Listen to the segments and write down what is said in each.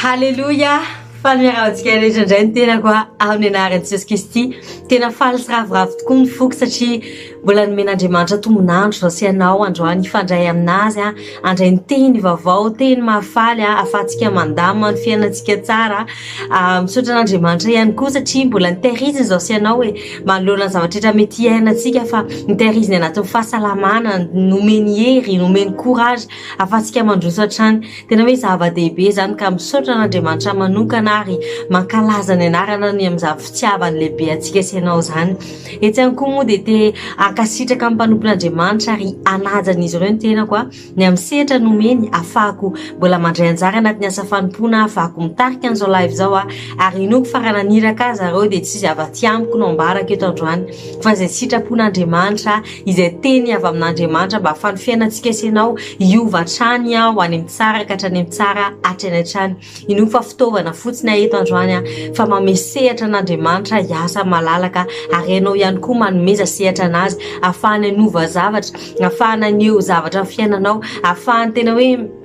Haleloia! Faly miarahaba antsika rehetra indray ny tenako amin'ny anaran'i Jesoa Kristy. Tena faly sy ravoravo tokoa ny foko satria mbola nomen'Andriamanitra tombon'andro izao sy ianao androany hifandray amin'azy, handray ny teny vaovao, teny mahafaly ahafahantsika mandamina ny fiainantsika tsara. Misaotra an'Andriamanitra ihany koa satria mbola nitahiriziny izao sy ianao e, manoloana ny zavatra rehetra mety hiainantsika fa nitahiriziny anatin'ny fahasalamana, nomeny hery, nomeny courage ahafahantsika mandroso hatrany. Tena hoe zava-dehibe izany ka misaotra an'Andriamanitra manokana ary mankalaza ny anarana ny amin'izany fitiavany lehibe antsika sy ianao izany. Etsy ihany koa moa dia te hankasitraka ny mpanompon'Andriamanitra ary hanaja an'izy ireo ny tenako aho ny amin'ny sehatra nomeny hafahako mbola mandray anjara anatin'ny asa fanompoana hafahako mitarika an'izao live izao aho ary inoako fa raha naniraka ahy zareo dia tsy zava-tsy amiko no ambarako eto androany fa izay sitrapon'Andriamanitra izay teny avy amin'Andriamanitra mba hahafan'ny fiainantsika sy ianao hiova hatrany aho any amin'ny tsara ka hatrany amin'ny tsara hatrany hatrany inoa fa fitaovana fotsiny ahy eto androany aho fa mame sehatra an'Andriamanitra hiasa malalaka ary ianao ihany koa manomeza sehatra anazy ahafahana ny hova zavatra ahafahana ny eo zavatra fiainanao ahafahany tena hoe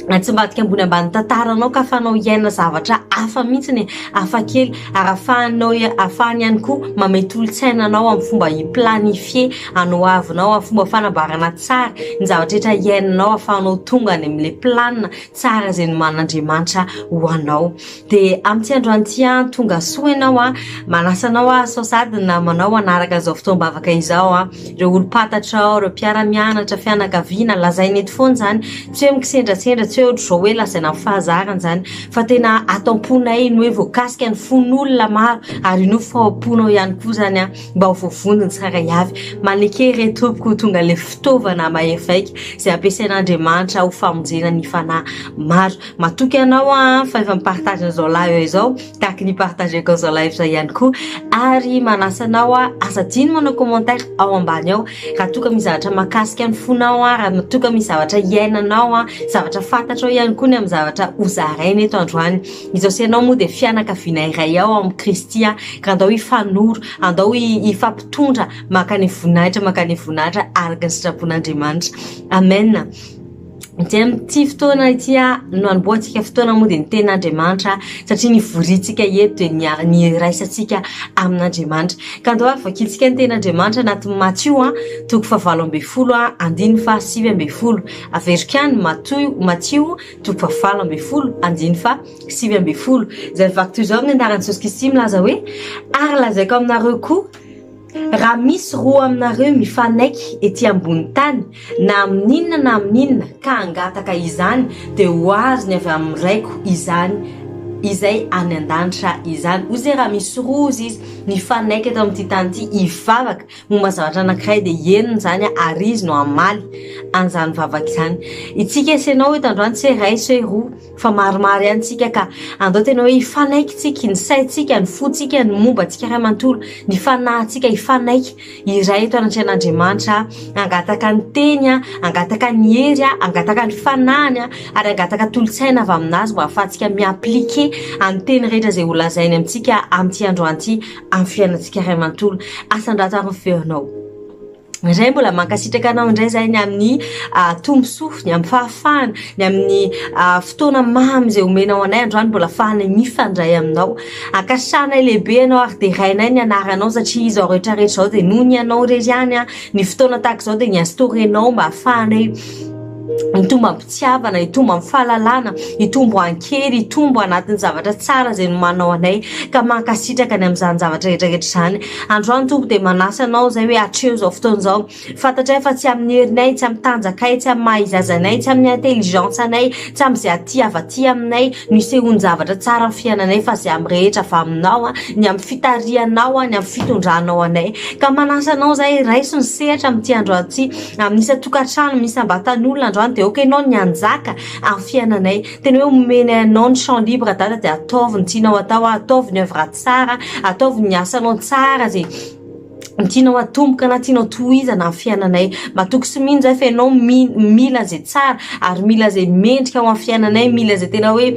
atsimbadika ambony ambany tantaranao ka afanao hiaina zavatra hafa mihitsy ny hafa kely ary afahanao afahany ihany koa mametolotsaina anao amin'ny fomba hiplanifier anao avinao amin'ny fomba fanamboarana tsara ny zavatraetra hiainanao afahanao tonga any amin'la planina tsara zay ny manandriamanitra ho anao de amin'ity andro any ity an tongasoa ianao an manasa anao aho sao sady ny namanao hanaraka an'izao fotoam-bavaka izao an ireo olom-pantatrao ireo mpiara-mianatra fianakaviana lazaina eto foana izany tsy hoe mikisendrasendra tsy hoe ohatr'izao hoe lazaina amin'ny fahazarana izany fa tena ato am-ponay ny hoe voakasika ny fon'olona maro ary io fa ao am-ponao ihany koa izany an mba ho voavonjy ny tsara hiavy maneke re tompoko ho tonga ilay fitaovana mahery vaika izay ampiasain'Andriamanitra ho famonjena ny fanahy maro Matoky anao an fa efa mi-partage an'izao live izao tahaka ny partageko an'izao live izay ihany koa ary manasa anao an aza adino manao commentaire ao ambany ao raha toa ka misy zavatra mahakasika ny fonao an raha toa ka misy zavatra iainanao an zavatra fantatrao ihany koa ny amin'ny zavatra hozaraina eto androany ny Jesosy ianao moa dia fianakaviana iray ao amin'i Kristy an ka andao hifanoro andao hifampitondra makany voninahitra makany voninahitra araka ny sitrapon'Andriamanitra amen dia amin'ity fotoana ity no hanombohantsika fotoana moa dia ny tenin'Andriamanitra satria ny vorintsika eto dia ny ny iraisantsika amin'Andriamanitra ka andao ary vakintsika ny tenin'Andriamanitra anatin'ny Matio a toko fahavalo ambin'ny folo a andininy fa sivy ambin'ny folo averiko ihany Matio Matio toko fahavalo ambin'ny folo andininy fa sivy ambin'ny folo izay vaky toy izao amin'ny anaran'i Jesosy Kristy milaza hoe ary lazaiko aminareo koa Raha misy roa aminareo mifanaiky ety ambony tany na amin'inona na amin'inona ka hangataka izany dia ho azony avy amin'ny Raiko izany izay any an-danitra izany. Hoy izay raha misy roa hoy izy mifanaiky eto amin'ity tany ity hivavaka momba zavatra anankiray dia henony izany ary izy no hamaly an'izany vavaka izany. Itsika sy ianao eto androany tsy hoe iray sy hoe roa Fa maromaro ihany tsika ka andao tena hoe hifanaiky tsika, ny saintsika, ny fontsika, ny momba antsika iray manontolo, ny fanahintsika hifanaiky iray eto anatrehan'Andriamanitra, hangataka ny teny, hangataka ny hery, hangataka ny fanahiny ary hangataka tolotsaina avy amin'Azy mba hahafahantsika mi-appliquer an'ny teny rehetra izay holazainy amintsika amin'ity androany ity amin'ny fiainantsika iray manontolo. Asandrato ary ny feonao. Indray mbola mankasitraka anao indray izay ny amin'ny tombosoa, ny amin'ny fahafahana, ny amin'ny fotoana mamy izay omenao anay androany mbola fahanay mifandray aminao. Ankasanay lehibe ianao ary derainay ny anaranao satria izao rehetra rehetra izao dia noho ny anao irery ihany ny fotoana tahaka izao dia ny azy torenao mba hafahanay hitombo am-pitiavana, hitombo amin'ny fahalalana, hitombo an-kery, hitombo anatin'ny zavatra tsara izay nomanao anay ka mankasitraka ny amin'izany zavatra rehetra rehetra izany. Androany Tompo dia manasa anao izay hoe hatreho izao fotoana izao. Fantatray fa tsy amin'ny herinay, tsy amin'ny tanjakay, tsy amin'ny maha-izy azy anay, tsy amin'ny intelligence anay, Tsy am zay aty avy aty aminay no isehoan-javatra tsara am fiainanay fa zay am rehetra avy aminao an, ny am fitarihanao an, ny am fitondranao anay. Ka manasa anao zahay raiso ny sehatra am ty andro aty am isan-tokantrano am isam-batan'olona androany de aoka ianao ny hanjaka am fiainanay. Tena hoe omenay anao ny champ libre Dada de ataovy ny tianao atao an, ataovy ny oeuvre tsara an, ataovy ny asanao tsara ze ny tianao atomboka na tianao tohizana ny fiainanay. Matoky sy mino zahay fa ianao mi- mila izay tsara ary mila izay mendrika ho an'ny fiainanay, mila izay tena hoe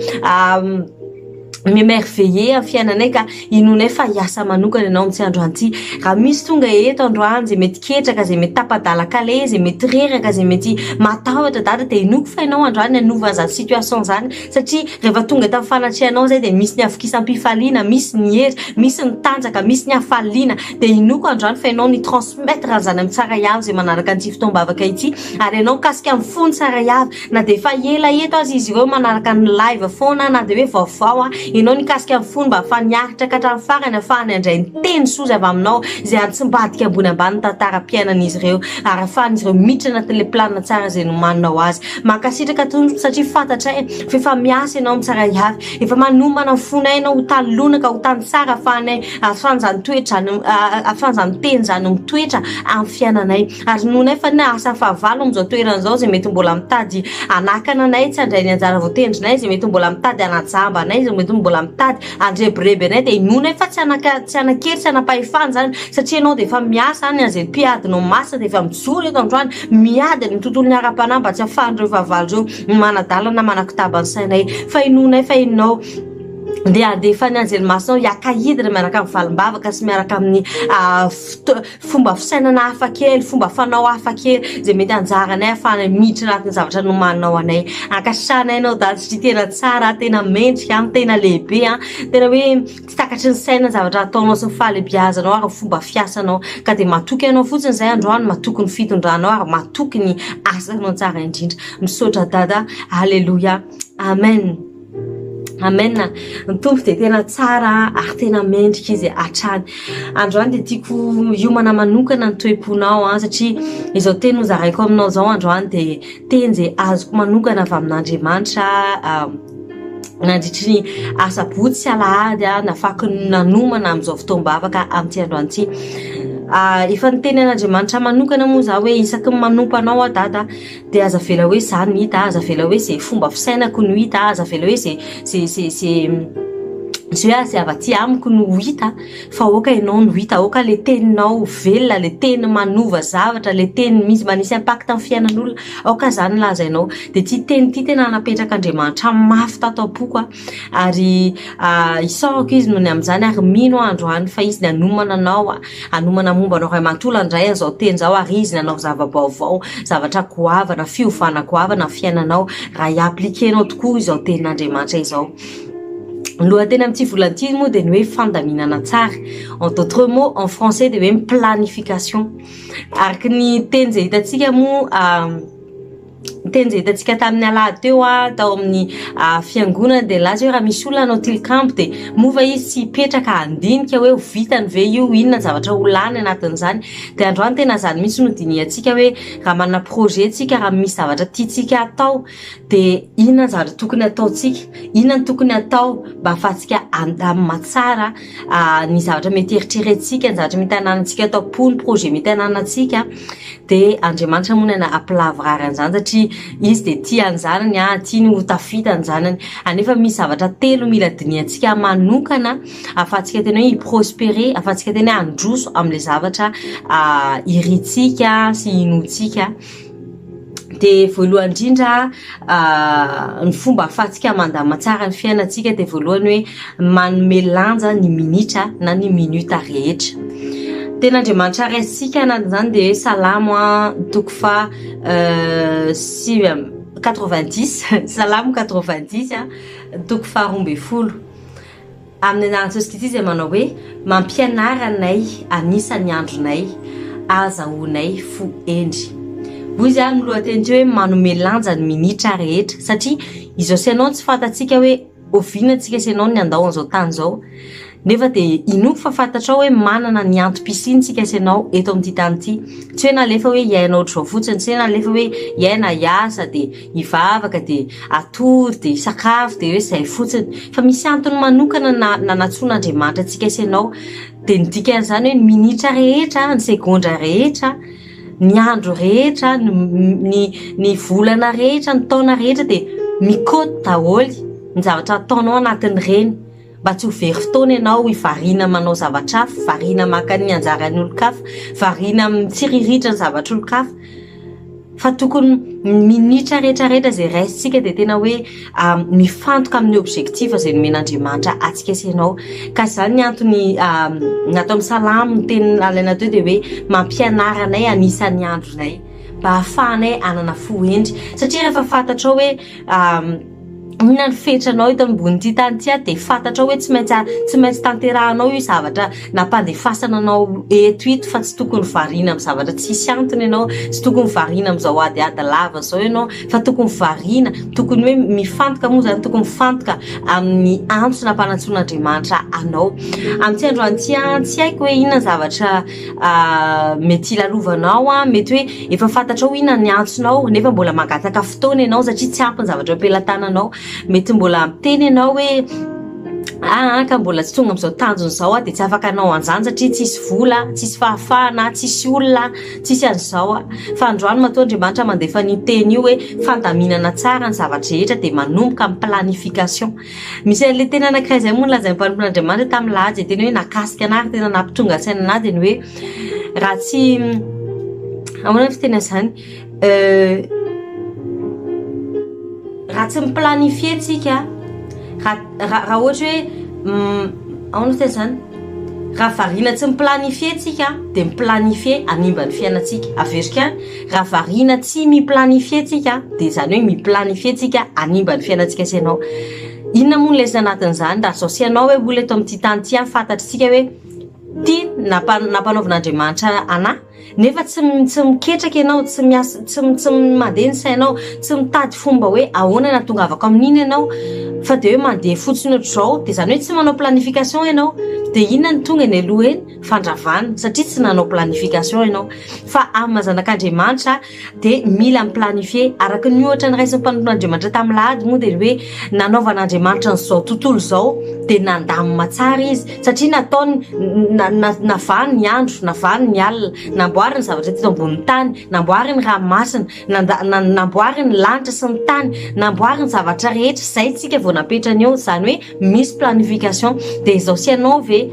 mi-emerveiller ny fiainanay ka inoanay fa hiasa manokana ianao amin'ity androany ity. Raha misy tonga eto androany izay mety ketraka, izay mety tapa-dalan-kaleha, izay mety reraka, izay mety matahotra Dada dia inoako fa ianao androany hanova an'izany situation izany. satria rehefa tonga eto amin'ny fanatrehanao izay dia misy ny havokisam-pifaliana, misy ny hery, misy ny tanjaka, misy ny hafaliana, dia inoako androany fa ianao ni-transmettre an'izany amin'ny tsara hiavy izay manaraka an'ity fotoam-bavaka ity, ary ianao mikasika amin'ny fo ny tsara hiavy, na dia efa ela eto aza izy ireo manaraka ny live foana na dia hoe vaovao an, ianao nikasika ny fony mba hahafany hiaritra ka hatramin'ny farany hahafahany handray ny teny soa izay avy aminao izay hantsimbadika ambony ambany ny tantaram-piainan'izy ireo ary hahafahan'izy ireo miditra anatin'ilay planina tsara izay nomaninao azy. Mankasitraka tompoko satria fantatray f'efa miasa ianao mitsara hiavy efa manomana ny fonay ianao ho tany lona ka ho tany tsara afahanay afan zany toetra zany afan zany teny zany mitoetra amy fiainanay ary noho nay fa ny asa fahavalo amizao toerana zao zay mety mbola mitady anakana anay tsy andray ny anjara voatendrinay zay mety mbola mitady anajamba anay zay mety mbola mitady andrebireby anay de inoanay fa tsy anaka tsy anakery tsy anapahefana zany satria ianao de efa miasa any azay mpiadinao masina de efa mijoro eto androany Miady ny tontolon'ny ara-panahy mba tsy hahafahan'ireo fahavalo ireo manadalana manakotaba ny sainay. Fa inoanay fa Ianao dia handefa ny anjely masinao hiaka-hidina miaraka amin'ny valim-bavaka sy miaraka amin'ny fomba fisainana hafa kely, fomba fanao hafa kely izay mety hanjary anay hahafahana miditra anatin'ny zavatra nomaninao anay. Ankasitrahanay Ianao Dada satria tena tsara, tena mendrika, tena lehibe, tena hoe. Tsy takatry ny saina ny zavatra ataonao sy ny fahalebiazanao ary ny fomba fiasanao ka dia matoky anao fotsiny izay androany matoky ny fitondranao ary matoky ny asanao tsara indrindra misaotra dada aleloia amen amen ny tompo dia tena tsara ary tena mendrika izy hatrany androany dia tiako hiomana manokana ny toem-ponao an satria izao teny ho zaraiko aminao izao androany dia teny izay azoko manokana avy amin'andriamanitra nandritry ny asabotsy sy alahady ah, nafaky nanomana amin'izao fotoam-bavaka amin'ity androany ity ah, efa niteny an'Andriamanitra manokana moa za hoe isaky ny manompa anao ah dada dia aza vela hoe za no hita aza vela hoe ze fomba fisainako no hita aza vela hoe ze ze ze ze ze hoe azy avy aty amiko no hita fa aoka ianao no hita aoka le teninao velona le teny manova zavatra le teny misy manisy impact amin'ny fiainan'olona Aoka izany lazainao dia ity teny ity tena napetrak'Andriamanitra mafy tato am-poko aho ary isaorako izy noho ny amin'izany ary mino aho androany fa izy ny hanomana anao hanomana momba anao ray manontolo handray an'izao teny izao ary izy ny hanao zava-baovao zavatra goavana fiovana goavana ny fiainanao raha hi-appliquer anao tokoa izao tenin'Andriamanitra izao ny lohateny amin'ity volana ity moa dia ny hoe fandaminana tsara en d'autres mots en français dia hoe planification Araka ny teny izay hitantsika moa ny teny izay hitantsika tamin'ny alahady teo tao amin'ny fiangonana dia nilaza hoe raha misy olona hanao tilikambo dia moa va izy tsy hipetraka handinika hoe ho vitany ve io, inona ny zavatra ho lany anatin'izany. Dia androany tena izany mihitsy no dinihantsika hoe raha manana projet isika, raha misy zavatra tiantsika hatao dia inona ny zavatra tokony hataontsika, inona ny tokony hatao mba hahafahantsika handamina tsara. ah, ny zavatra mety eritrerentsika ny zavatra mety ananantsika ato am-po ny projet mety ananantsika de andriamanitra monana apilavrary an'izany satria izy de tia any zanany a ah, tia ny ho tafita any zanany anefa misy zavatra telo mila diniantsika manokana afahantsika tena hoe hiprospere afahantsika tena hoe handroso am'le zavatra ah, irintsika sy inontsika dia voalohany indrindra ny fomba ahafahantsika mandama tsara ny fiainantsika dia voalohany hoe manome lanja ny minitra na ny minute rehetra tena andriamanitra ray antsika na izany dia hoe salamo an toko fa sivy amby quatre vingt dix salamo quatre vingt dix an toko faharoa ambin'ny folo Amin'ny anarantsosy Kristy izay manao hoe, mampianara anay anisa ny andronay, azahoanay fo hendry. Hoy izy ary ny lohateny teo hoe manome lanja ny minitra rehetra satria izao sy ianao tsy fantatsika hoe oviana antsika sy ianao ny handao an'izao tany izao nefa dia inoako fa fantatrao hoe manana ny antom-pisiantsika sy ianao eto amin'ity tany ity tsy hoe nalefa hoe hiaina ohatr'izao fotsiny tsy hoe nalefa hoe hiaina hiasa dia hivavaka dia hatory dia hisakafo dia hoe zay fotsiny fa misy antony manokana na nanatsoana Andriamanitra antsika sy ianao dia ny dikan'izany hoe ny minitra rehetra ny segondra rehetra ny andro rehetra ny ny ny volana rehetra ny taona rehetra dia mikoty daholo ny zavatra ataonao anatin'ireny Mba tsy ho very fotoana ianao variana manao zavatra hafa, variana maka ny anjaran'olon-kafa, variana mitsiriritra ny zavatr'olon-kafa fa tokony ny minitra rehetra rehetra izay raisintsika dia tena hoe mifantoka amin'ny objectif izay nomen'Andriamanitra antsika sy ianao. Ka izany ny antony nataon'ny Salamo ny teny nalaina teo dia hoe mampianara anay hanisa ny andronay mba hahafahanay hanana fo hendry satria rehefa fantatrao hoe inona ny fetranao eto ambonin'ity tany ity ary dia fantatrao hoe tsy maintsy tsy maintsy tanterahanao io zavatra nampandefasana anao eto ito fa tsy tokony variana amin'ny zavatra tsisy antony ianao tsy tokony variana amin'izao adiady lava izao ianao fa tokony variana tokony hoe mifantoka moa izany tokony mifantoka amin'ny antso nampanantsoin'andriamanitra anao amin'ity androany ity an tsy haiko hoe inona ny zavatra mety hilalovanao an, mety hoe efa fantatrao inona ny antsonao nefa mbola mangataka fotoana ianao satria tsy ampy ny zavatra eo am-pelatananao, mety mbola miteny ianao hoe aa ka mbola tsy tonga amin'izao tanjona izao aho dia tsy afaka hanao an'izany satria tsisy vola, tsisy fahafahana, tsisy olona, tsisy an'izao aho, fa androany matoa Andriamanitra mandefa an'io teny io hoe fandaminana tsara ny zava-drehetra dia manomboka amin'ny planification. Misy an'ilay teny anankiray izay moa nolazain'ny mpanompon'Andriamanitra tamin'i Lahaja izay tena hoe nakasika anà ary tena nampitonga saina anà dia ny hoe raha tsy ahoana ny fiteny an'izany raha tsy mi-planifier antsika raha raha ohatra hoe ahoana fiteny an'izany raha variana tsy mi-planifier antsika dia mi-planifier hanimba ny fiainantsika, averiko ihany. Raha variana tsy mi-planifier tsika dia izany hoe mi-planifier tsika hanimba ny fiainantsika sy ianao. Inona moa ny lesona anatin'izany raha zao sy ianao hoe olona eto amin'ity tany ity fantatritsika hoe ity nampanaovan'Andriamanitra anà nefa tsy tsy miketraka ianao tsy miasa tsy tsy mandeha ny sainao tsy mitady fomba hoe ahoana ny atongavako amin'iny ianao fa dia hoe mandeha fotsiny ohatr'izao dia izany hoe tsy manao planification ianao dia inona ny tonga eny aloha eny fandravana satria tsy nanao planification ianao fa amin'ny maha zanak'Andriamanitra dia mila mi-planifier araka ny ohatra niraisin'ny mpanompon'Andriamanitra tamin'ny lahady moa dia ny hoe nanaovan'Andriamanitra an'izao tontolo izao dia nandamina tsara izy satria nataony navany ny andro navany ny alina namboariny zavatra teto ambonin'ny tany namboariny ranomasina Nanda, na, namboary ny lanitra sy ny tany, namboary ny zavatra rehetra, izay tsika vao napetrany eo, izany hoe misy planification, dia izao sy ianao ve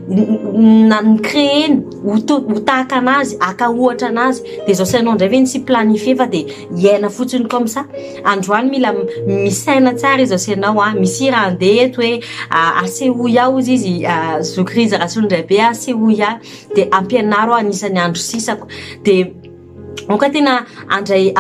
na ny créer ny ho to, ho tahaka anazy, aka ohatra anazy, dia izao sy ianao indray ve tsy planifier fa dia hiaina fotsiny comme ça, androany mila misaina tsara izao sy ianao an, misy hira handeha eto hoe asehoy aho hozy izy Zokirizarasolondraibe asehoy ahy dia ampianaro aho anisan'ny andro sisako dia Aoka tena andray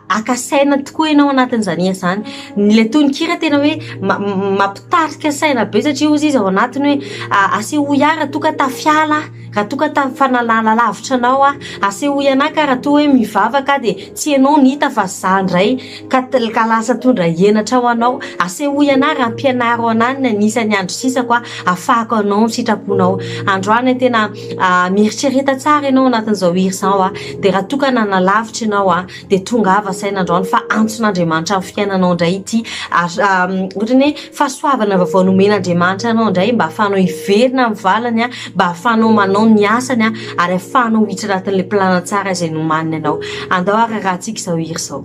aka saina tokoa ianao anatin'izany asa izany. Ilay tononkira tena hoe mampitarika saina be satria hoy izy ao anatiny hoe asehoy ahy raha toa ka tafiala aho, raha toa ka tafanalana lavitra anao aho, asehoy anaka raha toa hoe mivavaka aho dia tsy ianao no hita fa za indray. Ka tlka lasa tondra henatra ho anao. Asehoy anah raha ampianaro anah ny anisan'ny andro sisako ahafahako hanao ny sitraponao. Androany tena mieritrereta tsara ianao anatin'izao hira izao a. Dia raha toa ka nanalavitra ianao a, dia tongava saina androany fa antson'Andriamanitra amin'ny fiainanao indray ity ary ohatra ny hoe fahasoavana vaovao nomen'Andriamanitra anao indray mba ahafahanao hiverina amin'ny valiny a, mba ahafahanao manao ny asany a, ary ahafahanao hiditra anatin'ilay planina tsara izay nomaniny anao. Andao hahararantsika izao hira izao.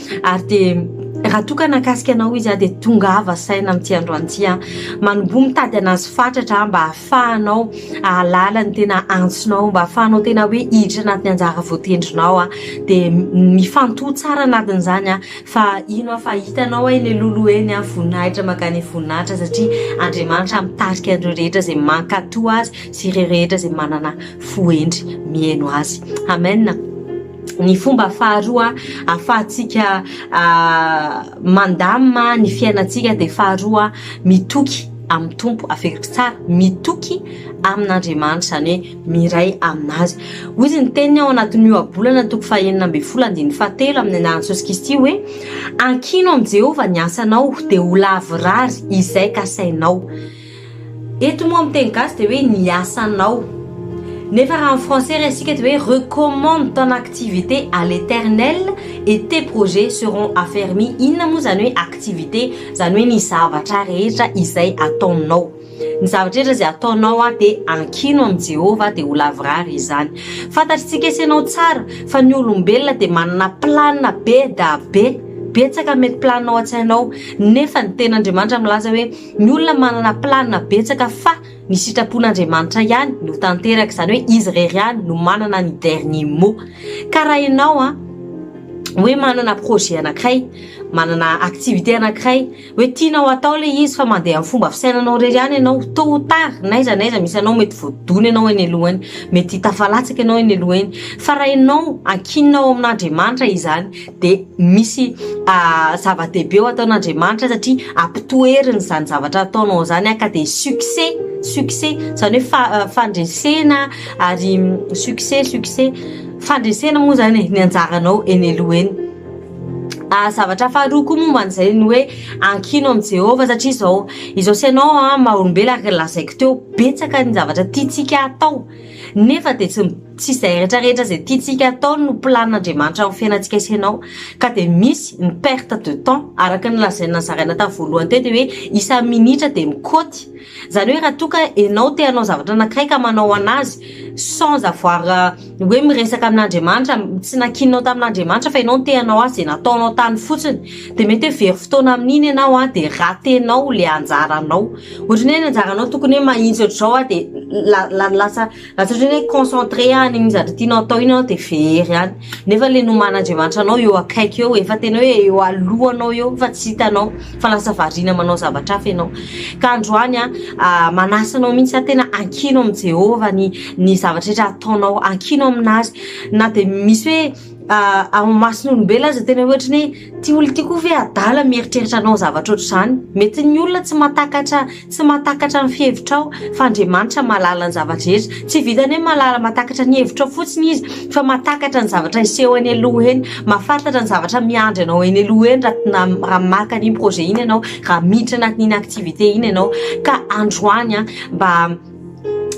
Ary dia raha toa ka nakasika anao izy aho dia tongava saina amin'ity androany ity aho. Manomboha mitady an'azy fatratra aho mba hahafahanao hahalala ny tena antsonao, mba hahafahanao tena hoe hiditra anatin'ny anjara voatendrinao aho. Dia mifantoha tsara anatin'izany aho fa hino aho fa hitanao eny aloloha eny aho, voninahitra mankany voninahitra satria Andriamanitra mitarika an'ireo rehetra izay mankatò Azy sy ireo rehetra izay manana fo hendry mihaino Azy. Amen. Ny fomba faharoa ahafahantsika mandamina ny fiainantsika dia faharoa mitoky amin'ny Tompo, averiko tsara, mitoky amin'Andriamanitra, izany hoe miray amin'Azy. Hoy izy ny teniny ao anatin'ny ohabolana toko fahenina ambin'ny folo andininy fahatelo amin'ny anaran'i Jesosy Kristy hoe, Ankino amin'i Jehovah ny asanao, dia ho lavorary izay kasainao. Eto moa amin'ny teny gasy dia hoe ny asanao. Nefa raha amin'ny français resintsika dia hoe recommande ton activité à l'Eternel et tes projets seront affermis. Inona moa izany hoe activité? Izany hoe ny zavatra rehetra izay ataonao. Ny zavatra rehetra izay ataonao a dia ankino amin'i Jehovah dia ho lavorary izany. Fantatritsika sy ianao tsara fa ny olombelona dia manana plan be da be. Betsaka mety plan ao an-tsainao nefa ny Tenin'Andriamanitra milaza hoe. Ny olona manana planina betsaka fa ny sitrapon'Andriamanitra ihany no tanteraka, izany hoe izy irery ihany no manana ny dernier mot. Ka raha ianao a, hoe manana projet anankiray, manana activité anankiray, hoe tianao atao ilay izy fa mandeha amin'ny fomba fisainanao irery ihany ianao, tot ou tard n'aiza n'aiza misy anao mety voadona ianao eny aloha eny, mety tafalatsaka ianao eny aloha eny. Fa raha ianao ankinina ao amin'Andriamanitra izany, dia misy zava-dehibe ho ataon'Andriamanitra satria ampitoeriny izany zavatra ataonao izany ka dia succès succès izany hoe fandresena ary succès succès fandresena moa izany e ny anjaranao eny aloha eny zavatra faharoa koa momba an'izay ny hoe ankino amin'i Jehovah satria izao izao sy ianao maha olombelona araka ny lazaiko teo betsaka ny zavatra tiantsika atao Nefa dia tsy tsy izay rehetra rehetra izay tiantsika atao no plan Andriamanitra amin'ny fiainantsika sy ianao ka dia misy ny perte de temps araka ny lazaina nozaraina tamin'ny voalohany teo dia hoe isan'ny minitra dia mikoty izany hoe raha toa ka ianao te hanao zavatra anankiray ka manao an'azy sans avoir hoe miresaka amin'Andriamanitra tsy nakianao tamin'Andriamanitra fa ianao no te hanao azy dia nataonao tany fotsiny dia mety hoe very fotoana amin'iny ianao an, dia ratenao ilay anjaranao, ohatra ny hoe anjaranao tokony hoe mahitsy ohatr'izao an, dia la- la- lasa lasa ohatran'ny hoe concentré any amin'ny zavatra tianao hatao iny ianao dia very any, nefa ilay noman'Andriamanitra anao eo akaiky eo, efa tena hoe eo alohanao eo fa tsy hitanao fa lasa variana manao zavatra hafa ianao, ka androany an manasa anao mihintsy aho tena ankino amin'i Jehovah ny ny zavatra rehetra ataonao, ankino amin'Azy na dia misy hoe ah, amin'ny mason'olombelona aza tena ohatra ny hoe ty olo ty koa ve adala mieritreritra anao zavatra ohatr'izany mety ny olona tsy matakatra tsy matakatra ny fihevitrao fa andriamanitra malala ny zava-drehetra tsy vitany hoe malala matakatra ny hevitrao fotsiny izy fa matakatra ny zavatra hiseho eny aloha eny mahafantatra ny zavatra miandry anao eny aloha eny raha raha maka an'iny projet iny ianao raha miditra anatin'iny activité iny ianao ka androany an mba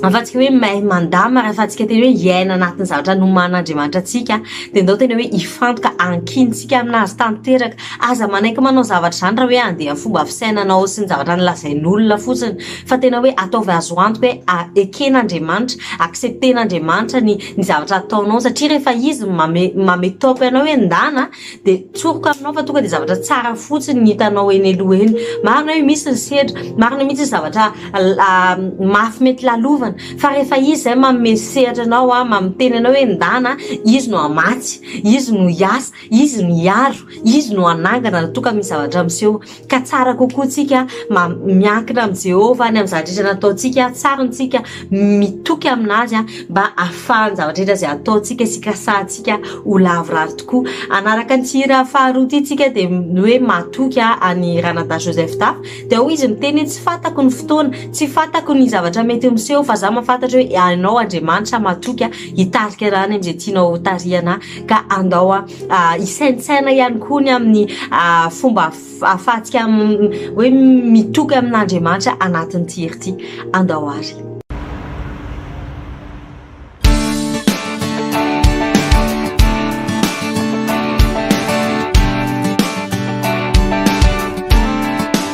afa-tsy ny hoe mahay mandamina raha afa-tsika tena hoe hiaina anatin'ny zavatra noman'Andriamanitra antsika dia ndao tena hoe hifantoka ankintsika amin'azy tanteraka aza manaiky manao zavatra izany raha hoe andeha fomba fisainanao sy ny zavatra nylazain'olona fotsiny fa tena hoe ataovy azo antoka hoe eken'Andriamanitra accepter n'Andriamanitra ny ny zavatra ataonao satria rehefa izy mame mame toaka ianao hoe ndana dia tsoriko aminao fa tonga dia zavatra tsara fotsiny ny hitanao eny aloha eny marina hoe misy ny sedra marina mihitsy ny zavatra mafy mety lalovana fa rehefa izy izay manome sehatra anao a mamiteny anao hoe ndana izy no hamatsy izy no hiasa izy no hiaro izy no hanangana raha toa ka misy zavatra miseho Ka tsara kokoa tsika miankina amin'i Jehovah any amin'ny zavatra rehetra nataontsika, tsara ny tsika mitoky amin'azy mba hahafahan'ny zavatra rehetra izay ataontsika sy ikasantsika ho lavorary tokoa. Hanaraka an'ity hira faharoa ity tsika dia ny hoe matoky an'i Ranadahy Joseph Dafy dia ao izy miteny hoe tsy fantako ny fotoana, tsy fantako ny zavatra mety ho miseho fa za mahafantatra hoe ianao Andriamanitra matoky hitarika anay amin'izay tianao hotarihana ka andao Hisaintsaina ihany koa ny amin'ny fomba ahafahantsika hoe mitoky amin'Andriamanitra anatin'ity hery ity. Andao àry.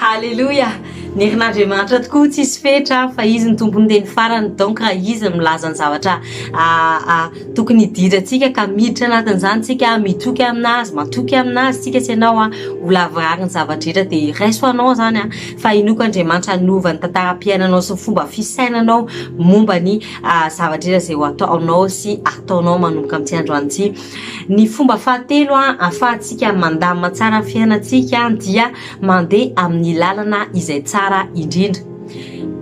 Haleloia! Ny herin'Andriamanitra tokoa tsisy fetra fa izy ny tompony teny farany donc raha izy no milaza ny zavatra tokony hidirantsika ka miditra anatin'izany tsika mitoky aminazy matoky aminazy tsika sy ianao an ho lavorary ny zava-drehetra dia raiso anao zany an fa inoako Andriamanitra hanova ny tantaram-piainanao sy ny fomba fisainanao momba ny zavatra iza izay ho ataonao sy ataonao manomboka amin'ity androany ity. Ny fomba fahatelo ahafahantsika mandamina tsara ny fiainantsika dia mandeha amin'ny lalana izay tsara indrindra.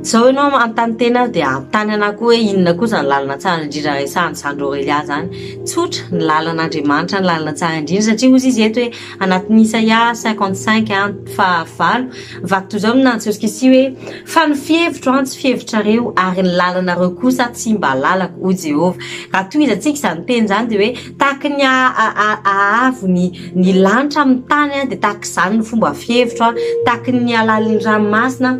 Izao ianao manontany tena aho dia anontany anah koa hoe inona koa izany lalana tsara indrindra resahan'i Sandro Aurelia izany. Tsotra, ny lalan'Andriamanitra ny lalana tsara indrindra satria hozy izy eto hoe. anatin'ny Isaia cinquante cinq and faha valo, vaky toy izao ny nanin'i Joskisia hoe, Fa ny fihevitro an, tsy fihevitrareo, ary ny lalanareo kosa tsy mba lalako, hoy Jehovah. Raha tohizantsika izany teny izany dia hoe, Tahaka ny haavo ny lanitra amin'ny tany, dia tahaka izany ny fomba fihevitro, tahaka ny halalin'ny ranomasina,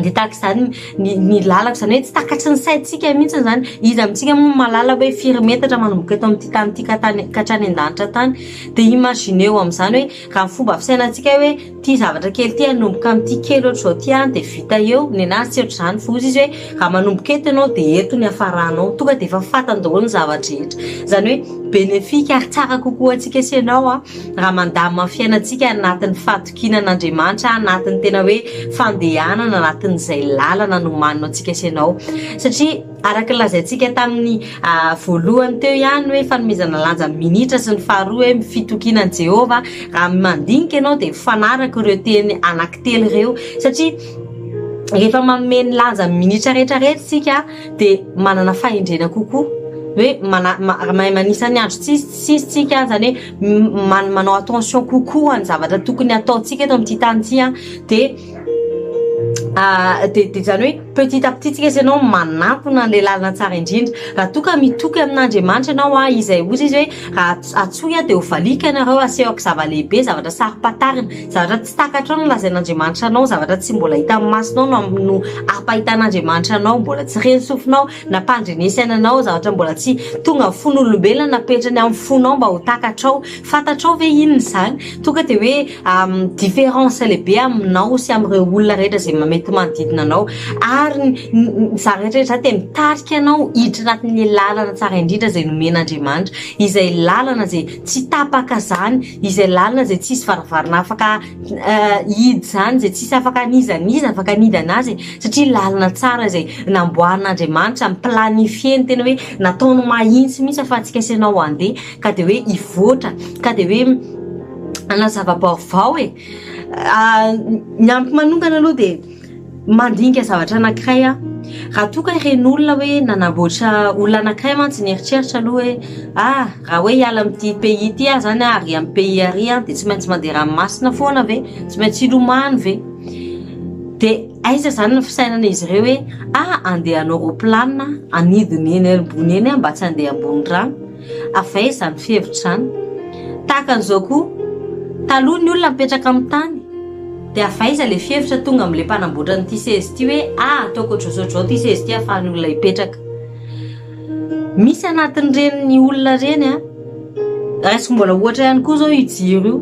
dia tahaka izany ny ny lalako izany hoe tsy takatry ny saintsika mihitsy izany iza amintsika moa mahalala hoe firy metatra manomboka eto amin'ity tany ity ka tany ka hatrany an-danitra tany dia imagineo amin'izany hoe raha ny fomba fisainantsika hoe ity zavatra kely ity hanomboka amin'ity kely ohatr'izao ity any dia vita eo nenazy tsy ohatr'izany fa hozy izy hoe raha manomboka eto ianao dia eto ny hafaranao tonga dia efa fantany daholo ny zava-drehetra izany hoe bénéfique ary tsara kokoa antsika sy ianao an raha mandamina ny fiainantsika anatin'ny fatin kinan'Andriamanitra anatin'ny tena hoe fandehanana anatin'izay lalana nomanina antsika sy ianao satria araka ny lazaintsika tamin'ny ah, voalohany teo ihany hoe fanomezana lanja minitra sy ny faharoa hoe fitokiana an'i Jehovah raha mandinika ianao dia fanaraka ireo teny anankitelo ireo satria rehefa manome ny lanja minitra rehetra rehetra isika dia manana fahendrena kokoa hoe mana- ma- mahay manisa ny andro tsisy tsisy tsika zany hoe manao attention kokoa ny zavatra tokony ataontsika eto amin'ity tany ity an dia dia dia izany hoe petit à petit tsika izay ianao manantona an'ilay lalana tsara indrindra raha toa ka mitoky amin'Andriamanitra ianao an izay hozy izy hoe raha atsoy aho dia ho valiako ianareo asehoko zava-lehibe zavatra saro-pantarina zavatra tsy takatrao no lazain'Andriamanitra anao zavatra tsy mbola hitan'ny masonao no ampahitan'Andriamanitra anao mbola tsy ren'ny sofinao Nampandrenesana anao zavatra mbola tsy tonga fon'olombelona napetrany amin'ny fonao mba ho takatrao. Fantatrao ve inona izany? Tonga dia hoe différence lehibe aminao sy amin'ireo olona rehetra izay mety manodidina anao. Ary izany rehetra izany dia mitarika anao hiditra anatin'ilay lalana tsara indrindra izay nomen'Andriamanitra. Izay lalana izay tsy tapaka izany, izay lalana izay tsy hisy varavarana afaka. hihidy izany izay tsisy afaka n'iza n'iza afaka nihidy anazy e, satria lalana tsara izay namboarin'Andriamanitra mi-planifier-ny tena hoe nataony mahitsy mihitsy afatsika sy ianao handeha ka dia hoe hivoatra ka dia hoe hanazava-baovao e ny amiko manokana aloha dia Mandinika zavatra anankiray aho, raha toa ka ireny olona hoe nanamboatra olona anankiray mantsy nieritreritra aloha hoe ah raha hoe hiala amin'ity pays ity aho izany ary hiala amin'ny pays ary aho dia tsy maintsy mandeha ranomasina foana ve? Tsy maintsy hilomano ve? Dia aiza izany ny fisainan'izy ireo hoe ah andeha hanao roplanina hanidina eny ambony eny aho mba tsy handeha ambony rano? Avy aiza izany fihevitra izany? Tahaka an'izao koa, taloha ny olona mipetraka amin'ny tany, dia avy aiza ilay fihevitra tonga amin'ilay mpanamboatra an'ity seza ity hoe ah, ataoko ohatr'izao ohatr'izao ity seza ity ahafahan'ny olona hipetraka. Misy anatin'ireny ny olona ireny an. Raisiko mbola ohatra ihany koa izao io jiro io.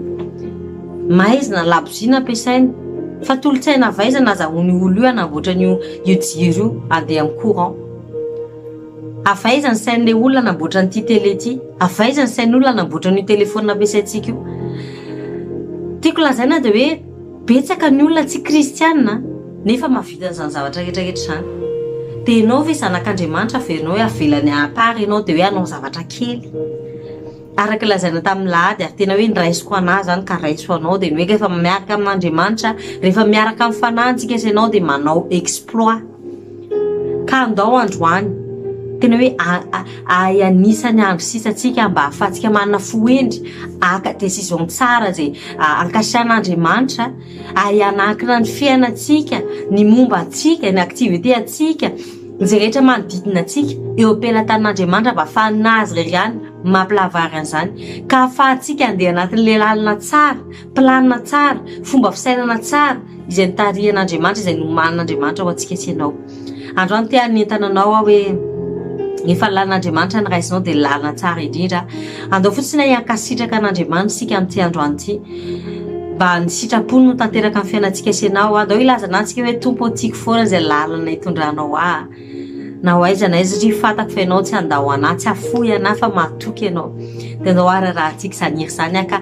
Maizina ny labozia nampiasaina. Fa tolotsaina avy aiza nazahoan'io olona io hanamboatra an'io jiro io handeha amin'ny courant? Avy aiza ny sain'ilay olona namboatra an'ity tele ity? Avy aiza ny sain'olona namboatra an'io telefaonina ampiasaintsika io? Tiako lazaina dia hoe betsaka ny olona tsy kristiana nefa mahavita an'izany zavatra rehetra rehetra izany. Dia ianao ve zanak'Andriamanitra averina hoe avelany à part ianao dia hoe hanao zavatra kely? Araka ny lazaina tamin'ny lahady ary tena hoe ny raisiko anà izany ka raiso anao dia ny hoe rehefa miaraka amin'Andriamanitra, rehefa miaraka amin'ny fanahintsika sy ianao dia manao exploit. Ka andao androany, tena hoe ahay anisa ny andro sisa tsika mba ahafahantsika manana fo hendry haka décision tsara izay ankasitrahana Andriamanitra, ahay hanankina ny fiainantsika, ny momba antsika, ny activité antsika, izay rehetra manodidina antsika eo am-pelatanin' Andriamanitra mba ahafahan'Azy irery ihany mampilahavary an'izany ka ahafahantsika andeha anatin'ilay lalana tsara. Planina tsara, fomba fisainana tsara izay notarihan'Andriamanitra, izay nomanin'Andriamanitra ho antsika sy ianao. Androany te hanentana anao aho hoe efa ny lalan'Andriamanitra no raisinao dia lalana tsara indrindra. Andao fotsiny hay hankasitraka an'Andriamanitra isika amin'ity androany ity. Mba ny sitrapony no tanteraka ny fiainantsika sy ianao. Andao hilaza anantsika hoe Tompo ô tiako foana izay lalana hitondranao ahy. Na ho aiza na aiza satria fantako fa ianao tsy handao anah, tsy hafoy anah fa mahatoky ianao. Dia andao hararahantsika izany hira izany aho ka.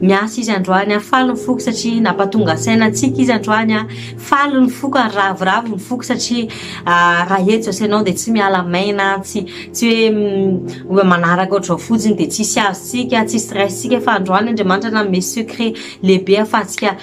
Miasa izy androany an, faly ny foko satria nampatonga saina antsika izy androany an, faly ny foko ary ravoravo ny foko satria raha eto zase ianao dia tsy miala maina, tsy tsy hoe manaraka ohatr'izao fotsiny dia tsisy azontsika, tsisy raisintsika fa androany Andriamanitra nanome secret lehibe ahafahantsika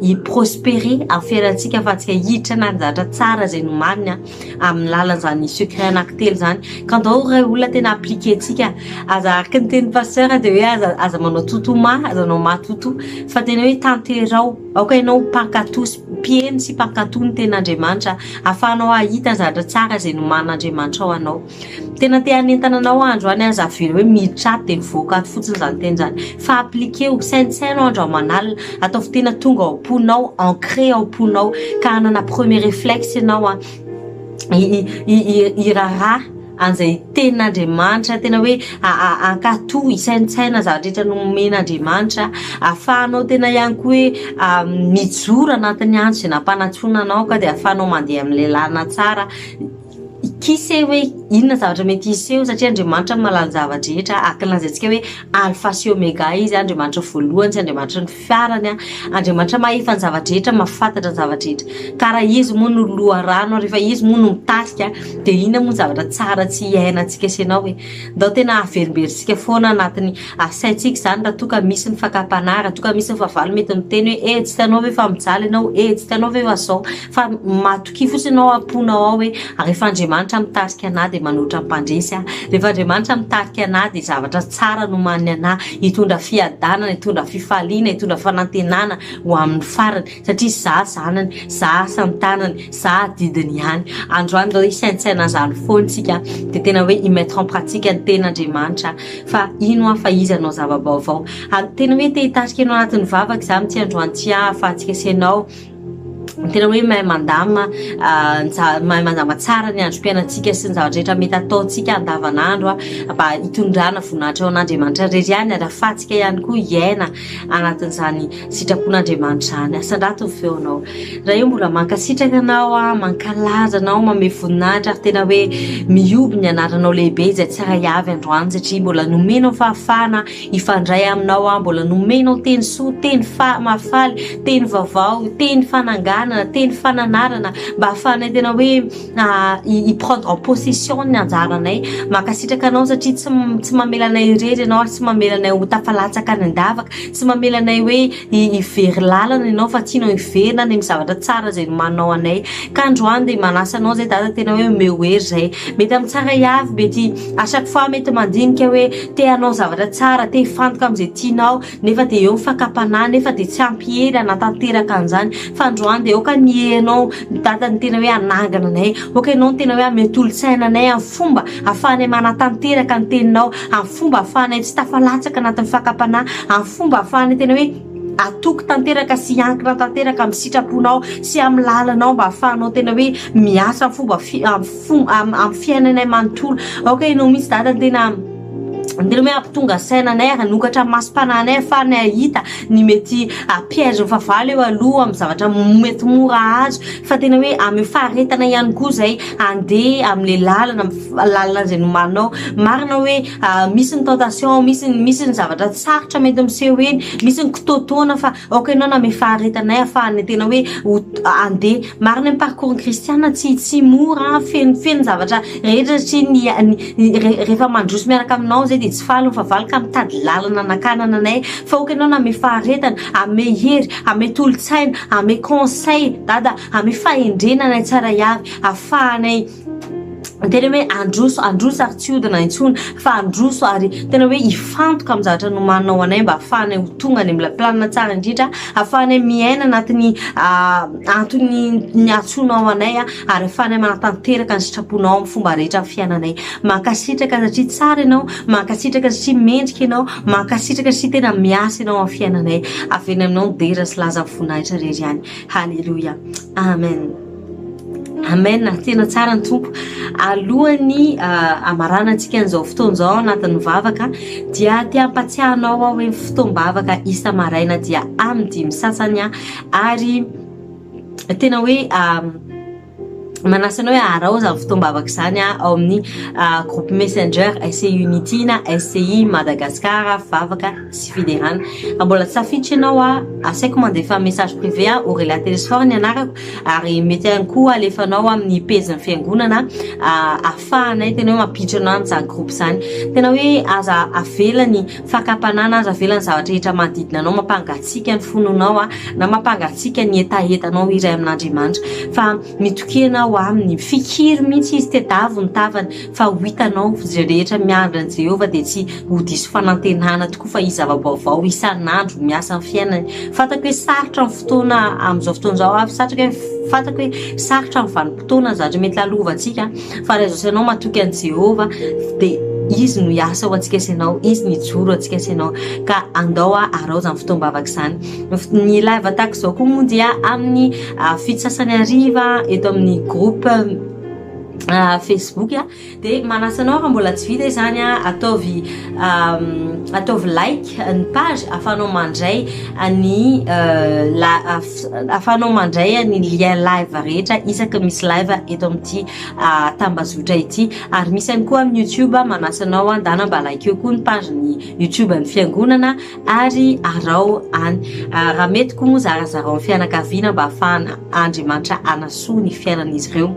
hi-prosperer, hahaferantsika ahafahantsika hiditra nanjatra tsara izay nomaniny an. amin'ny lalan'izany sucre anaky telo izany ka ndao ray olona tena appliquer-tsika aza araka ny tenin'i pasteur dia hoe aza aza manao toto ma aza anao ma toto fa tena hoe tanterao aoka ianao ho mpankato sy mpiheno sy mpankato ny tenin'Andriamanitra ahafahanao hahita zavatra tsara izay nomanin'Andriamanitra ho anao Tena te hanentana anao andro any aza avereo hoe miditra ato dia mivoaka ato fotsiny izany teny izany fa appliquer-o saintsaino andro aman'alina ataovy tena tonga ao am-ponao ancrer ao am-ponao ka hanana premier reflexe ianao an hiraharaha an'izay tenin'Andriamanitra tena hoe hankato hisaintsaina zavatra rehetra nomen'Andriamanitra ahafahanao tena ihany koa hoe mijoro anatin'ny andro izay nampanantsoina anao ka dia ahafahanao mandeha amin'ny lalana tsara Kise hoe inona ny zavatra mety hiseho satria Andriamanitra no mahalala ny zava-drehetra ary kilaza antsika hoe alfa sy omega izy Andriamanitra voalohany sy Andriamanitra ny fiarany Andriamanitra mahefa ny zava-drehetra mahafantatra ny zava-drehetra ka raha izy moa no loharano rehefa izy moa no mitarika dia inona moa ny zavatra tsara tsy hiainantsika sy ianao e ndao tena haverimberitsika foana anatiny saintsika izany raha toa ka misy ny fakam-panahy raha toa ka misy ny fahavalo mety miteny hoe e tsy hitanao ve fa mijaly ianao e tsy hitanao ve fa zao fa Kivy fotsiny ao am-ponao ao hoe, rehefa Andriamanitra mitarika anà dia manoatra mpandresy aho, rehefa Andriamanitra mitarika anà dia zavatra tsara no omanin'ny anà, hitondra fiadanana, hitondra fifaliana, hitondra fanantenana ho amin'ny farany, satria izaho zanany, izaho asan-tanany, izaho adidiny ihany. Androany izao hisaintsaina an'izany foana isika dia tena hoe hi-mettre en pratique ny Tenin'Andriamanitra fa hino aho fa Izy hanao zava-baovao. Ary tena hoe te-hitarika anao anatin'ny vavaka izaho amin'ity androany ity ahafahantsika sy ianao tena hoe mahay mandama mahay mandama tsara ny androm-piainantsika sy ny zava-drehetra mety ataontsika andavanandro mba hitondrana voninahitra ao an'Andriamanitra rery ihany ary afahantsika ihany koa hiaina anatin'izany sitrapon'Andriamanitra izany asandrato ny feonao raha eo mbola mankasitraka anao a mankalaza anao mame voninahitra ary tena hoe mihoby ny anaranao lehibe izay tsara hiavy androany satria mbola nomenao fahafahana Hifandray aminao aho mbola nomenao teny soa, teny mahafaly, teny vaovao, teny fananganana, teny fananarana mba hahafahanay tena hoe hi-prendre en possession ny anjaranay. Mankasitraka anao satria tsy tsy mamela anay irery ianao ary tsy mamela anay ho tafalatsaka any an-davaka, tsy mamela anay hoe. hivery lalana ianao fa tianao hiverina any amin'ny zavatra tsara izay nomaninao anay ka androany dia manasa anao izay dada tena hoe omeo hery izay mety amin'ny tsara hiavy mety à chaque fois mety mandinika hoe te hanao zavatra tsara te hifantoka amin'izay tianao nefa dia eo ny fakam-panahy nefa dia tsy ampy hery hanatanteraka an'izany fa androany dia aoka ny herenao ny dada ny tena hoe hanangana anay aoka ianao ny tena hoe hamehy tolon-tsaina anay amin'ny fomba hahafahanay manatanteraka ny teninao amin'ny fomba ahafahanay tsy tafalatsaka anatin'ny fakam-panahy, amin'ny fomba ahafahanay tena hoe atoky tanteraka sy hiankina tanteraka amin'ny sitraponao sy amin'ny lalanao mba ahafahanao tena hoe miasa amin'ny fomba fi- amin'ny fo- am- amin'ny fiainanay manontolo aoka ianao mihitsy dada ny tena ny tena hoe hampitonga saina anay ary hanokatra masom-pananay ahafahanay hahita ny mety piège fahavalo eo aloha amin'ny zavatra mety mora azo fa tena hoe amin'ny faharetana ihany koa izay andeha amle lalana lalana zay nomaninao marina hoe ah, misy ny tentation misy misy ny zavatra sarotra mety miseho eny misy ny kitoatoana fa ok ianao name faharetanay afahan'ny tena hoe andeha marina ny parcours kristiana tsy tsy mora feno feno zavatra rehetra satria ny rehefa mandroso miaraka aminao zay de tsy faly fa valy ka mitady lalana nakanana anay fa ok ianao name faharetana ame hery ame tolotsaina ame conseil dada amin'ny fahendrena anay tsara hiavy afahanay tena hoe androso androso ary tsy hodina intsony fa androso ary tena hoe hifantoka amin'ny zavatra nomanao anay mba afahanay ho tonga any mla planina tsara indrindra afahanay miaina anatin'ny ah, antony ny atsonao anay ah, ary afahanay manatanteraka ny sitraponao amin'ny fomba rehetra ny fiainanay mankasitraka satria tsara ianao mankasitraka satria mendrika ianao mankasitraka satria tena miasa ianao amin'ny fiainanay avy eny aminao ny dera sy laza voninahitra rery ihany Haleloia amen amen tena tsara ny Tompo alohan'ny hamaranantsika an'izao fotoana izao anatin'ny vavaka dia te hampatsiahy anao aho hoe fotoam-bavaka isa-maraina dia amin'ny dimy sasany ary tena hoe manasa anao hoe aharao izany fotoam-bavaka izany ao amin'ny ah, groupe messenger SCI Unity na SCI Madagascar vavaka sy fiderana raha mbola tsy tafiditra ianao a asaiko mandefa message privé a Aurelia Telesphore ny anarako ary mety ihany koa alefanao amin'ny page ny fiangonana ah, ahafahanay tena hoe mampiditra anao amin'izany groupe izany tena hoe aza avela ny Fakam-panana aza avela ny zavatra rehetra manodidina anao mampangatsiaka ny fononao na mampangatsiaka ny hetahetanao iray amin'Andriamanitra fa mitokena ho aminy. Fikiry mihitsy izy, tedavo ny tavany fa ho hitanao izay rehetra miandry an'i Jehovah dia tsy ho diso fanantenana tokoa fa hisy zava-baovao isan'andro miasa amin'ny fiainany. Fantako hoe sarotra ny fotoana amin'izao fotoana izao, fantako hoe sarotra ny vanim-potoana izany mety lalovantsika. Fa raha izao sy ianao matoky an'i Jehovah, dia Izy no hiasa ho antsika sy ianao, Izy no hijoro ho antsika sy ianao. Ka andao haraho izany fotoam-bavaka izany. Ny live tahaka izao koa moa dia amin'ny ah, fito sasany hariva eto amin'ny groupe ah, Facebook a, dia manasa anao raha mbola tsy vita izany a, ataovy ah, ataovy like ny page ahafahanao mandray ny ah, la- ah, Ahafahanao mandray ny lien live rehetra isaka misy live eto amin'ity tambazotra ity. Ary misy ihany koa amin'ny YouTube, manasa anao handana mba likeo koa ny page-n'ny YouTube ny Fiangonana ary araho any. Raha mety koa moa zarazarao ny fianakaviana mba hahafahana Andriamanitra hanasoa ny fiainan'izy ireo.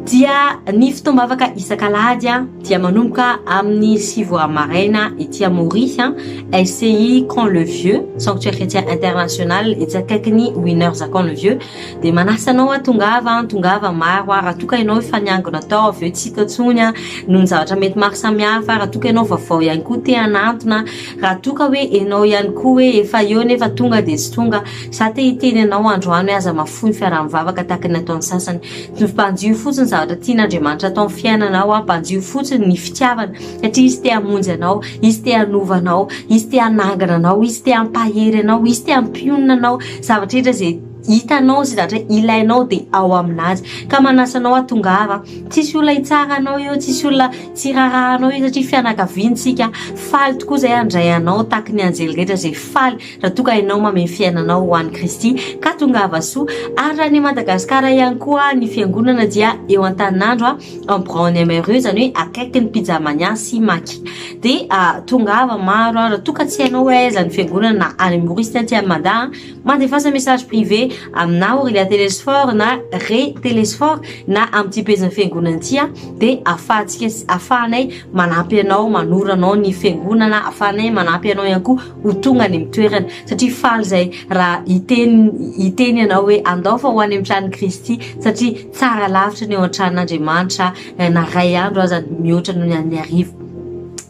Dia ny fotoam-bavaka isak'alahady. dia manomboka amin'ny sivy ora maraina ety Amoria, SCI Camp Le Vieux, Sanctuaire Chrétien International, etsy akaikin'ny Winners Camp Le Vieux. Dia manasa anao aho, tongava, tongava maro aho, raha toa ka ianao efa niangona tao, avy eo tsy hita intsony noho ny zavatra mety maro samihafa, raha toa ka ianao vaovao ihany koa te hanantona, raha toa ka hoe ianao ihany koa hoe efa eo nefa tonga dia tsy tonga, izaho te hiteny anao androany hoe aza mahafoy ny fiaraha-mivavaka tahaka ny ataon'ny sasany. Mpanjiho fotsiny ny zavatra tian'Andriamanitra atao amin'ny fiainanao, mpanjiho fotsiny ny fitiavany, satria Izy te hamonjy anao, Izy te hanova anao, Izy te hanangana anao, Izy te hampahery anao, Izy te hampionona anao. Zavatra rehetra izay hitanao sy zavatra ilainao dia ao amin'Azy. Ka manasa anao aho, tongava. Tsisy olona hitsara anao eo, tsisy olona tsy hiraharaha anao eo, satria fianakaviana isika. Faly tokoa izay handray anao tahaka ny anjely rehetra izay faly. Raha toa ka ianao mamehy fiainanao ho an'i Kristy ka tongava soa, ary raha any Madagasikara ihany koa ny fiangonana dia eo Antaninandro en Braony Mreux izany hoe akaikin'ny Pijamania sy Maki dia tongava maro raha toa ka tsy hainao hoe aiza ny fiangonana na any amin'ny Maorisy na aty any Mada mandefasa message privé aminà Aurelia Telesphore na Re Telesphore na amin'ity pejin'ny fiangonana ity dia ahafahantsika ahafahanay manampy anao manoro anao ny fiangonana ahafahanay manampy anao ihany koa ho tonga any amin'ny toerany satria faly izay raha hiteny hiteny ianao hoe andao fa ho any amin'ny tranon'i Kristy satria tsara lavitra ny eo an-tranon'Andriamanitra eh, na ray andro aza mihoatra noho ny an'ny arivo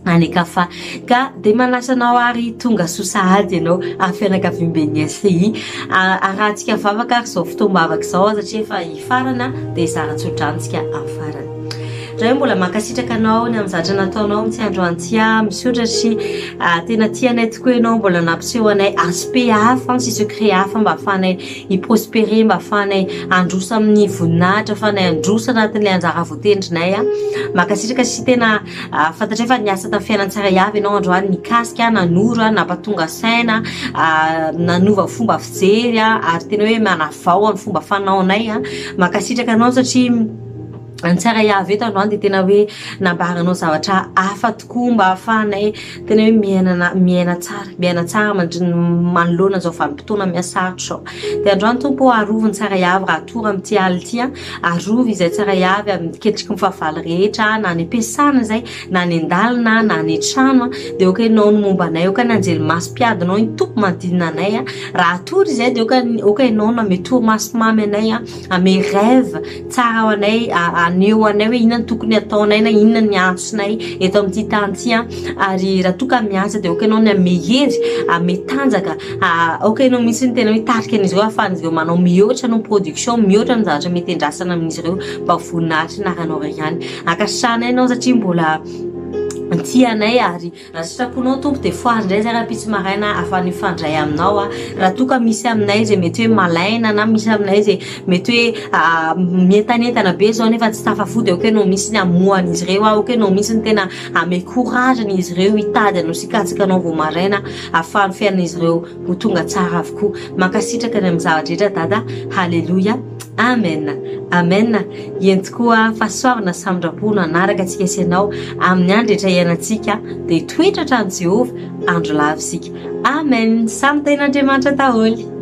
any kafa ka dia manasa anao ary tonga soa sahady ianao ary fianakaviamben'ny SCI arahantsika vavaka ary izao fotoam-bavaka izao aza satria efa hifarana dia zara-tsodrano tsika amin'ny farany Zay mbola mankasitraka anao ny amin'ny zatra nataonao amintsika androany tsy ahy misaotra sy ah, tena tianay tokoa ianao mbola nampiseho anay aspect hafa sy secret hafa mba ahafahanay hiprospere mba ahafahanay androsa amin'ny voninahitra ahafahanay androsa anatin'ilay anjara voatendrinay a ah. mankasitraka sy tena ah, fantatray fa niasa tamin'ny fiainantsara iaby ianao androany nikasika nanoro a nampatonga saina nanova fomba fijery a ary tena hoe manavao amin'ny fomba fanaonay a mankasitraka anao satria Ny tsara Yaveh eto androany dia tena hoe nambaranao zavatra hafa tokoa mba hahafahanay tena hoe miainana miaina tsara, miaina tsara mandrin- manoloana izao vanim-potoana mihasarotra izao. Dia androany Tompo ô arovy ny tsara Yaveh raha toa raha amin'ity alina ity an, arovy izay tsara Yaveh amin'ny ketriky ny fahavalo rehetra na any am-piasana izay na any an-dalana na any an-trano an, dia aoka Ianao no momba anay, aoka ny anjely maso mpiadinao iny Tompo manodidina anay an, raha toa ry izay dia aoka aoka Ianao no hanome torimaso mamy anay an, hanome rêve. Tsara ho anay haneho anay hoe inona no tokony hataonay na inona ny antsonay eto amin'ity tany ity an, ary raha toa ka miasa dia aoka ianao ny hanome hery, hanome tanjaka, aoka ianao mihitsy no tena hoe tarika an'izy ireo hahafahan'izy ireo manao mihoatra noho ny production, mihoatra noho ny zavatra mety endrasana amin'izy ireo mba ho voninahitry ny anaranao irery ihany. Ankasitrahanay ianao satria mbola tia anay ary Raha sitraponao Tompo dia fohazo indray izay rahampitso maraina ahafahan'ny mifandray aminao aho. Raha toa ka misy aminay izay mety hoe malaina na misy aminay izay mety hoe mientanentana be izao nefa tsy tafafody aoka ianao mihitsy ny hamoha an'izy ireo aoka ianao mihitsy ny tena hanome courage an'izy ireo hitady anao sy hikatsaka anao vao maraina ahafahan'ny fiainan'izy ireo ho tonga tsara avokoa. Mankasitraka ny amin'ny zava-drehetra Dada. Haleloia. Amen Amen Iento koa fa soavina sy famindrampo no hanaraka antsika sy ianao amin'ny andro rehetra iainantsika dia toetra hatrany Jehovah andro lava isika Amen Samy Tenin'Andriamanitra daholo.